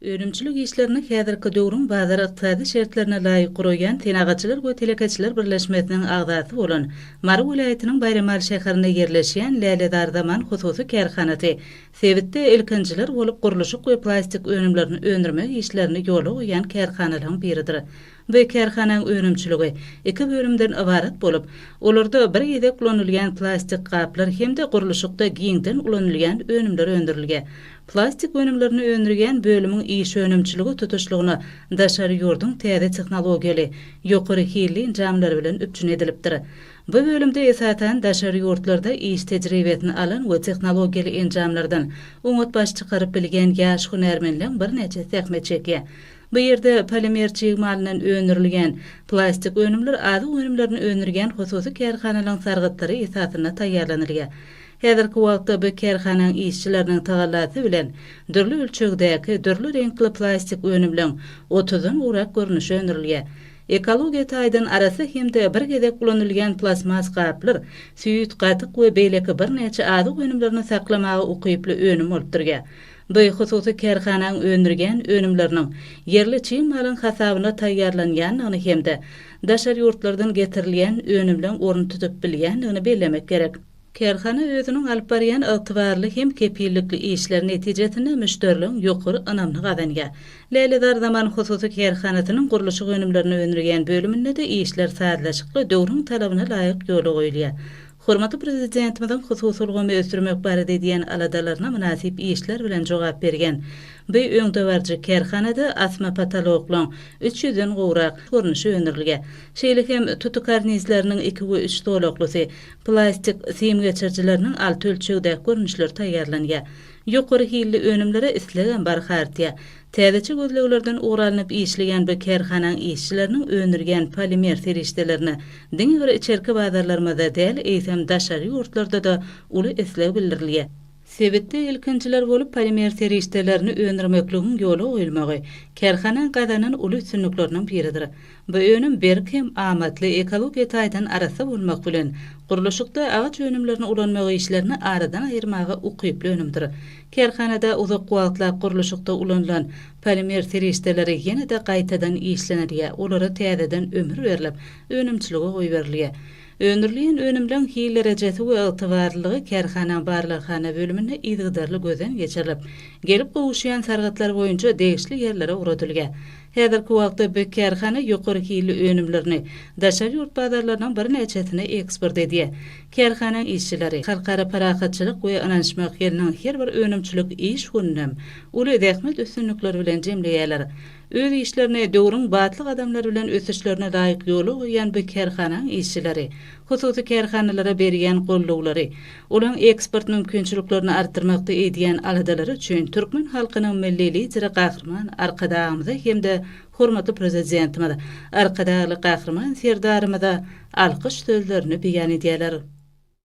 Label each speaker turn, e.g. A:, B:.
A: Önümçilik işlerini häzirki döwrüň bazar-ykdysady şertlerine laýyk guraýan Senagatçylar we telekeçiler birleşmesiniň agzasy bolan Mary welaýatynyň Baýramaly şäherinde ýerleşýän Lälezar zaman hususy kärhanasy sebitde ilkinjiler bolup gurluşyk we plastik önümlerini öndürmek işlerini ýola goýýan kärhanalaryň biridir. Bu kärhanaň önümçiligi iki bölümden ybarat bolup, olarda bir gezek ulanylýan plastik gaplar hem-de gurluşykda giňden ulanylýan önümler öndürilýär. Plastik önümlerini öndürýän bölümiň iş önümçiligi tutuşlygyna daşary ýurduň täze tehnologiýaly, ýokary hilli enjamlary bilen üpjün edilipdir. Bu bölümde esasan daşary ýurtlarda iş tejribesini alan we tehnologiýaly enjamlardan oňat baş çykaryp bilýän ýaş hünärmenleň birnäçe zähmet çekýär. Bu ýerde polimer çig malyndan öndürilýän, plastik önümler, azyk önümlerini öndürýän hususy kärhanalaryň sargytlary esasynda taýýarlanylýar. Häzirki wagtda bu kärhananyň işçileriniň tagallasy bilen dürli ölçegdäki, dürli reňkli plastik önümleň otuzdan gowrak görnüşi öndürilýär. Ekologiýa taýdan arassa hem-de bir gezek ulanylýan plastmas gaplar süýt, gatyk we beýleki birnäçe azyk önümlerini saklamaga ukyply önüm bolup durýar. Nji, hususy kärhanaň öndürýän önümleriniň ýerli çig malyň hasabyna taýýarlanýandygyny hem-de daşary ýurtlardan getirilýän önümleň orun tutup bilýändigini bellemek gerek. Kärhana özüniň alyp barýan ygtybarly hem kepillikli işleri netijesinde müşderiligiň ýokary ynamyny gazanýar. Lälezar Zaman hususy kärhanasynyň gurluşyk önümlerini öndürýän bölüminde-de işler sazlaşykly, döwrüň talabyna laýyk ýola goýulýar. Hormatly Prezidentimiziň hususy ulgamy ösdürmek barada edýän aladalaryna mynasyp işler bilen jogap bergen bu öňdebaryjy kärhanada asma potoloklyň üç ýüzden gowrak görnüşi öndürilge, şeýle hem tuty karnizleriniň iki we üç zolaklysy, plastik sim geçirijileriniň alty ölçegdäki görnüşleri taýýarlanýar. Ýokary hilli önümlere islegem barha artýar. Täzeçe gözleglerden ugur alnyp işleýän bu kärhanaň işçileriniň öndürýän polimer serişdelerine diňe bir içerki bazarlarymyzda däl, eýsem, daşary ýurtlarda-da uly isleg bildirilýär. Sebitde ilkinjiler bolup polimer serişdelerini öndürmekligiň ýola goýulmagy kärhanaň gazanan uly üstünlikleriniň biridir. Bu önüm berk hem amatly, ekologiýa taýdan arassa bolmak bilen, gurluşykda agaç önümlerini ulanmak işlerini aradan aýyrmaga ukyply önümdir. Kärhanada uzak wagtlap gurluşykda ulanylan polimer serişdeleri ýene-de gaýtadan işlenilýär, olara täzeden ömür berlip, önümçilige goýberilýär. Öndürilýän önümleriň hil derejesi we ygtybarlylygy kärhanaň barlaghana bölüminde yzygiderli gözden geçirilip, gelip gowuşýan sargytlar boýunça degişli ýerlere ugradylýar. Häzirki wagtda bu kärhana ýokary hilli önümlerini daşary ýurt bazarlarynyň birnäçesine eksport edýär. Kärhananyň işçileri Halkara parahatçylyk we ynanyşmak ýylynyň her bir önümçilik iş gününem uly zähmet üstünlikleri bilen jemleýärler. Öz işlerini döwrüň batly gadamlary bilen ösüşlerine laýyk ýola goýýan bu kärhananyň işçileri hususy kärhanalara berýän goldawlary, olaryň eksport mümkinçiliklerini artdyrmakda edýän aladalary üçin türkmen halkynyň Milli Lideri Gahryman Arkadagymyza hem-de Hormatly Prezidentimiz Arkadagly Gahryman Serdarymyza alkyş sözlerini beýan edýärler.